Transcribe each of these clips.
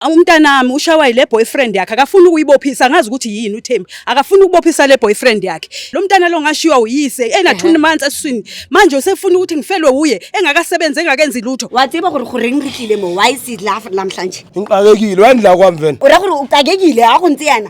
umntanami ushawa yile boyfriend yakhe akafuni ukuyibophisa angazi ukuthi yini uThembi akafuni ukubophisa le boyfriend yakhe lo mntana lo ngashiywa uyise ena 2 months eswini manje usefuna ukuthi ngifelwe uye engakasebenzi engakenzi lutho watsiba gore gore ngikile mo why sit laugh namhlanje ngiqakekile wendla kwamvena ura gore uqakekile akuntsi yana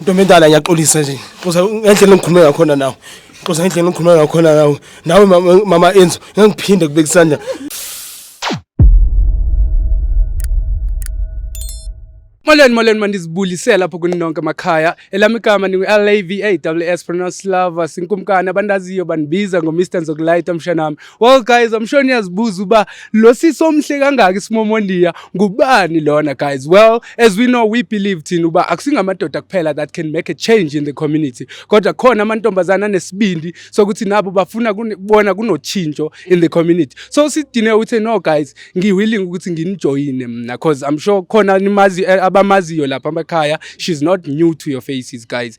Ntombi endala ngiyaxolisa nje. Xoza ngendlela engikhulume ngakhona nawe. Xoza ngendlela engikhulume ngakhona nawe. Nawe mama- mama Enzo ngiphinde kubeka isandla. Molweni molweni mandizibulise lapho kuni nonke makhaya. Elami igama ningu-LAVAWS pronounced lover sinkumkani abandaziyo bandibiza ngo-Mr Nzokulayita mshanami. Well guys, I'm sure niyazibuza uba lo sisi omhle kangaka isimomondiya ngubani lona guys. Well, as we know we believe thina uba akusingamadoda kuphela that can make a change in the community. Kodwa khona amantombazana anesibindi sokuthi nabo bafuna kubona kunotshintsho in the community. So sidine uthi no guys, ngiwilling ukuthi nginijoyine mina because I'm sure khona nimazi eh, abamaziyo lapha emakhaya. She's not new to your faces guys.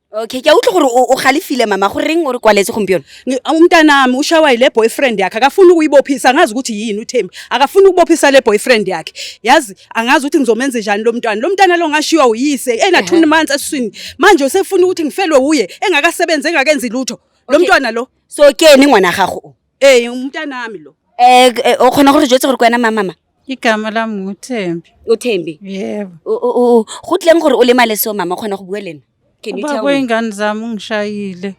okay ke a utlwa gore o o galefile mama go reng o re kwaletse gompieno Ngi- umntanami ushawa yile boyfriend yakhe akafuni ukuyibophisa angazi ukuthi yini uthembi akafuni ukubophisa le boyfriend yakhe yazi angazi ukuthi ngizomenza njani lo mntwana lo mntana lo ngashiywa uyise ena-two months esiswini manje usefuna ukuthi ngifelwe wuye engakasebenzi engakenzi lutho lo Okay. mntwana lo so ke ene ngwana gago o Hey, umntanami lo. Eh eh, o kgona gore jetse gore ke wena mamama igama lami nguthembi o thembi yebo O- o- o- go tleng gore o lemale seo mama o kgona go bua le ena can you tell ubaba me wey'ngane zami ungishayile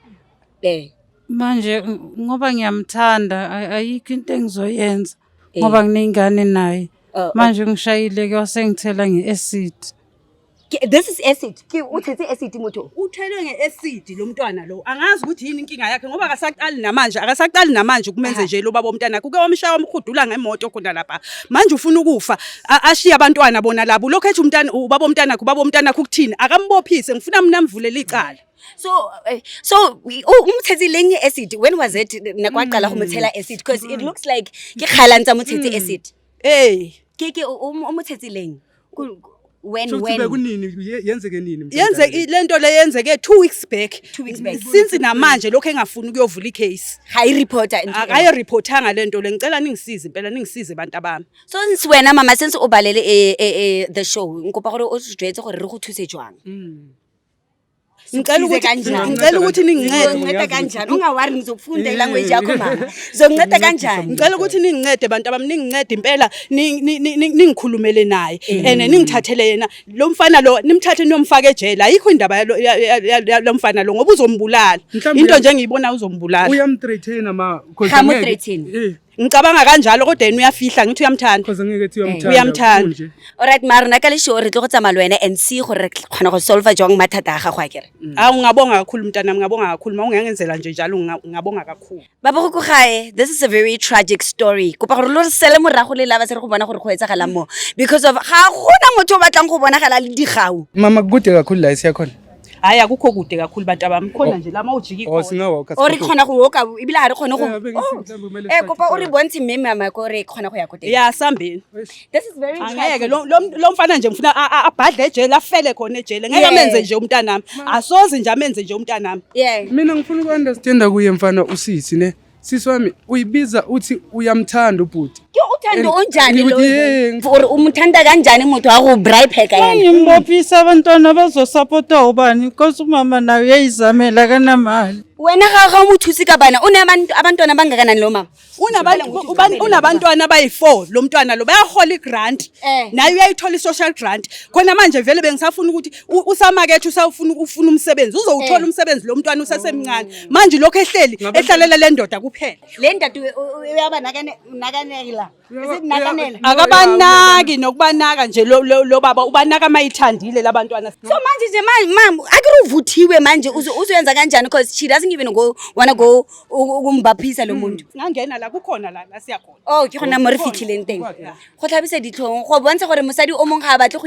eh manje ng- ngoba ngiyamthanda ay- ayikho into engizoyenza eh, ngoba nginey'ngane naye oh, manje ungishayile-ke wasengithela nge-acid Ke- This is acid. Ke uthetse acid moto. uthelwe nge-esidi lo mntwana lo angazi ukuthi yini inkinga yakhe ngoba akasaqali namanje akasaqali namanje kumenze nje lo baba womntana kuke wamshaya wamhudula ngemoto khona lapha manje ufuna ukufa a- ashiye abantwana bona labo lokhu ethi umntana ubaba womntanakhe ubaba womntanakhe ukuthini akambophise ngifuna mina mvulele icala So eh, so u- umthetse leng acid. When was it nakwaqala ho mothela acid because it looks like ke khalang tsa mothetse acid. ey Ke ke u- um- umthetse leng. when when kunini yenzeke nini yenzeke lento le yenzeke 2 weeks back 2 weeks back since namanje lokho engafuni ukuyovula icase hayi reporter akayo reportanga lento le ngicela ningisize impela ningisize abantu abami so since wena mama since ubalele eh, eh, eh, the show ngikopa gore o sijwetse gore re go thuse jwang mm. ngicela ukuthi ngicela ukuthi ningincede nginceda kanjani ungawari ngizokufunda ilanguage yakho mama zokunceda kanjani ngicela ukuthi ningincede bantu abami ningincede impela ningikhulumele naye mm. and ningithathele yena lo mfana lo nimthathe niyomfaka ejele ayikho indaba yalo mfana lo ngoba uzombulala into nje ngiyibona uzombulala uyamthreaten ma because uyamthreaten eh. ngicabanga kanjalo kodwa yena uyafihla ngithi uyamthanda cause ngeke ethi uyamthanda Uyamthanda. kunje. alright mara rona ka lesho re tlo go tsamaya le wena and see gore re kgona go solva jwang mathata a gago a kere hawu ngabonga kakhulu mntanami ngabonga kakhulu ma ungangenzela nje njalo nga- ngabonga kakhulu baba go ko gae this is a very tragic story kopa gore lo re sele morago le laba se re go bona gore go etsagalang mo because of ga gona motho o batlang go bonagala le digau mama kude kakhulu la esiyakhona hayi akukho kude kakhulu bantu abami khona oh. nje lama ujiki oh, o re kgona go woka ebile ga re kgone go e eh, kopa o re bontshe mme mama ko re kgona go ya ko teng ya sambeni ngeke lo mfana nje ngifuna abhadle ejele afele khona ejele ngeke amenze nje umntanami asoze nje amenze nje umntanami mina ngifuna uku-understanda kuye mfana usisi ne Sisi wami uyibiza uthi uyamthanda ubhuti. Ke uthanda onjani lo? Or umthanda kanjani umuntu waku bribe pheka yena? Ngimbophisa abantwana bazosupporta ubani because umama nayo uyayizamela kanamali. Wena ga ga umuthusi ka bana unabantu abantwana abangakanani lo mama? Unabantu unabantwana abayi4 lo mntwana lo bayahola igrant. Eh. Naye uyayithola isocial grant. Khona manje vele bengisafuna ukuthi usamakethe usawufuna ufuna umsebenzi uzowuthola eh. umsebenzi lo mntwana usesemncane oh. manje lokho ehleli ehlalela le ndoda kuphela le ndoda uyaba nakaneki la akabanaki nokubanaka nje lo baba ubanaka mayithandile labantwana so manje nje mama akiruvuthiwe manje uzoyenza kanjani because she doesn't even go wanna go ukumbaphisa lo hmm. muntu ngangena la kukhona la la siya khona oh ke gona mo re fitlhileng teng go tlhabisa ditlhong go bontsha gore mosadi o mongwe ga a batle go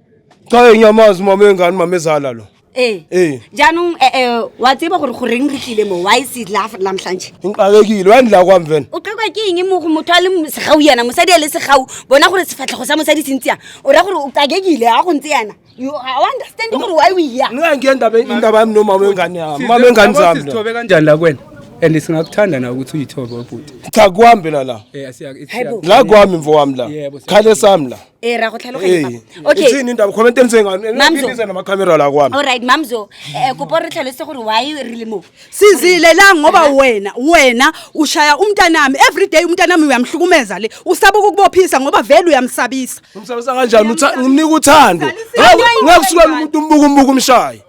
Cha ngiyamazi mama engane mama ezala lo. Eh. Eh. Jaanong eh eh wa tseba gore go reng re tlile mo why is it laugh la mhlanje? Ngixakekile wa ndla kwami vena. O qekwa ke eng mo go motho a le segau yana mosadi a le segau bona gore sefatlhego sa mosadi se ntseya o ra gore o qakekile a go ntse yana you I understand gore why we here Nxa ngiye ndaba indaba yami nomama wengane yami. Mama engane zami. lo. Sithobe kanjani la kwena? And singakuthanda na ukuthi uyithobe obhuti. Cha kuhambe la la. Eh asiya. Hayibo. La kwami mfowami la. Yebo, siyabonga. Khale sami la. Eh ra go tlhaloganya Ee. papa. Okay. Itseng neng taba, comment e ntseng ano, ene Mamzo. ke tsena ma-camera la kwame. All right, Mamzo. Eh kopo re tlhalose gore why re le mo. sizilelang ngoba wena wena ushaya umntanami everyday umntanami uyamhlukumeza le usaba ukukubophisa ngoba vele uyamsabisa Ngimsabisa kanjani? Utha- ngimnika uthando Ngeke- ngeke usuke umuntu umbuka umbuka umshaye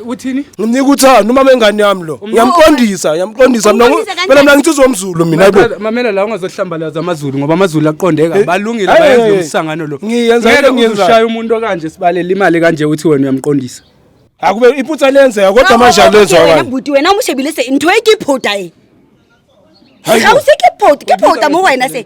uthini ngimnika uthando uma mengane yami lo ngiyamqondisa ngiyamqondisa mina phela mina ngithi uzomzulu mina ayibo mamela la ungazohlambalaza amazulu ngoba amazulu aqondeka eh, balungile eh, bayenza eh, umsangano lo ngiyenza into ngiyenza ushaya umuntu okanje sibalela imali kanje uthi wena uyamqondisa akube iphutha lenzeka kodwa manje alenzwa wena bhuti wena umushebile se into ekiphoda e hayi usekiphoda kiphoda mo wena se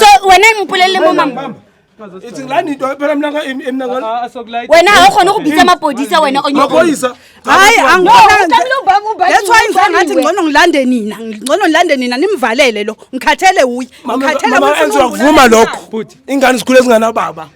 so wena ngipolelele mo mama itseng la nito phela mna emnakona wena ga o kgone go bitsa mapodisa wena onyoisa hayi angthats why ngiza ngathi ngcono ngilande nina ngcono ngilande nina nimvalele lo ngikhathele wuye ngikhathele vuma lokho ingane sikhule zinganababa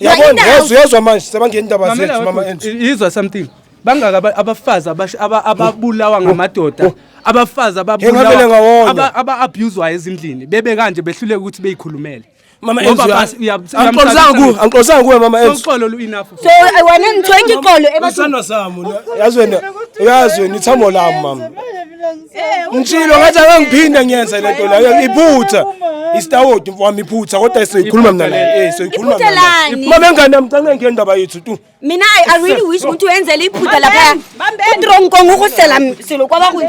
yabona yezu yezwa manje sebangena indaba zethu mama enzo yizwa something bangaka abafazi ababulawa oh, oh, ngamadoda oh. abafazi ababulawa aba-abuswayo ezindlini bebe kanje behluleke ukuthi beyikhulumele mama enzo angiqolisanga kuwe angiqolisanga kuwe mama enzo uxolo lu enough so i want to thank you xolo ebathana sami yazi wena yazi wena ithambo lami mama Eh, Ngishilo ngathi angiphinde ngiyenze lento leyo iphutha. Isitawodi mfowami iphutha kodwa sizoyikhuluma mina naye. Eh sizoyikhuluma Iphutha mina. naye. lani? Mama ngane yami canga ngeke ndaba yethu tu. mina i I really wish ukuthi uyenzele iphutha lapha utrong kong ukusela m- selo kwaba kunje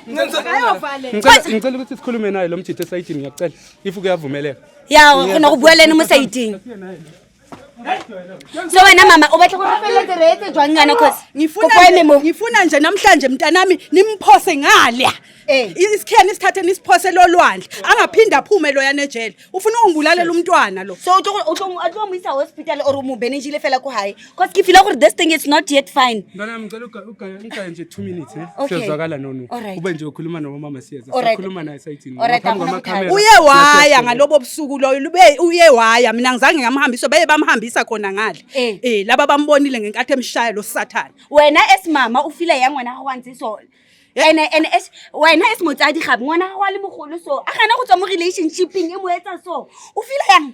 Ngicela ngicela ukuthi sikhulume naye lo mjitha esayidini ngiyacela. If kuyavumeleka. ya khona kubueleni mo sayidini so wena mama ubatla kufelezerete jwang ngana cause ngifuna nje namhlanje mntanami nimphose ngalya eh. isikheni isithathe nisiphose lolwandle angaphinde aphume loyana ejele ufuna ungibulalela umntwana lo so utlomuyisa hospital or umubene njile fela ku high cause ngifila gore this thing is not yet fine Ugayanika nje 2 minutes eh. Okay. Siyazwakala nono. Alright. Ube nje ukhuluma nomama siyeza. Alright. Sikhuluma naye sayithini. Alright, Ngaphambi angifuni kwamakamera. uye waya ngalobo busuku loyo lube uye waya mina ngizange ngamhambisa baye bamhambisa khona ngale Eh. eh laba bambonile ngenkathi emshaya lo sathane wena esimama o fila yang ngwana gago wa ntse so ene ene es wena es motsadi gape ngwana gago wa le mogolo so a gana go tswa mo relationshipeng e mo etsa so o fila yang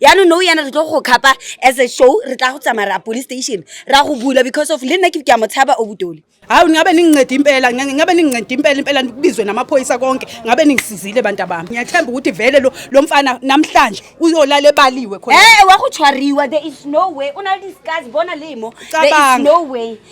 yaanong no yana re tlo go khapa as a show re tla go tsamaya ra police station ra go bula because of le nna ke ke a mo tshaba o butole hawu ningabe ningincede impela ngabe ningincede impela impela kubizwe namaphoyisa konke ngabe ningisizile bantu abami ngiyathemba ukuthi vele lo lo mfana namhlanje uyolala ebaliwe khona eh wakutshwariwa there is no way unalidiscuss bona limo there is no way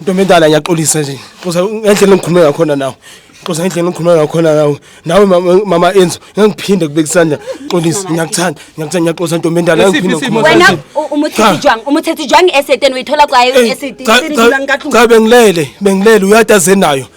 Ntombi endala ngiyaxolisa nje. Xoza ngendlela engikhulume ngakhona nawe. Xoza ngendlela engikhulume ngakhona nawe. Nawe mama- mama Enzo ngiphinde kubeka isandla. Xolisa ngiyakuthanda. Ngiyakuthanda ngiyaxoza ntombi endala Isiphi ngiphinde isimo ngikhulume. wena Cha, u- umuthethe jwang umuthethe jwang esiteni uyithola kwaye esiteni cha, cha, cha bengilele bengilele uyataze nayo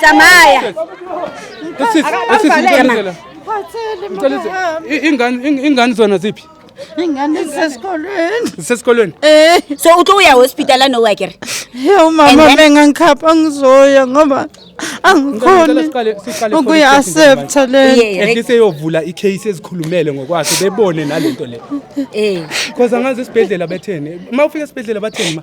Tsamaya. Ingane zona ziphi? Ingane zisesikolweni. Zisesikolweni? Eh. So uthi uya hospital anowa ke? Hey umama mengangikhapha ngizoya ngoba angikhoni ukuya accept le. Ehlise yovula icase ezikhulumele ngokwakhe bebone nalento le. Eh. Because angazi esibhedlela betheni. Uma ufika esibhedlela batheni ma?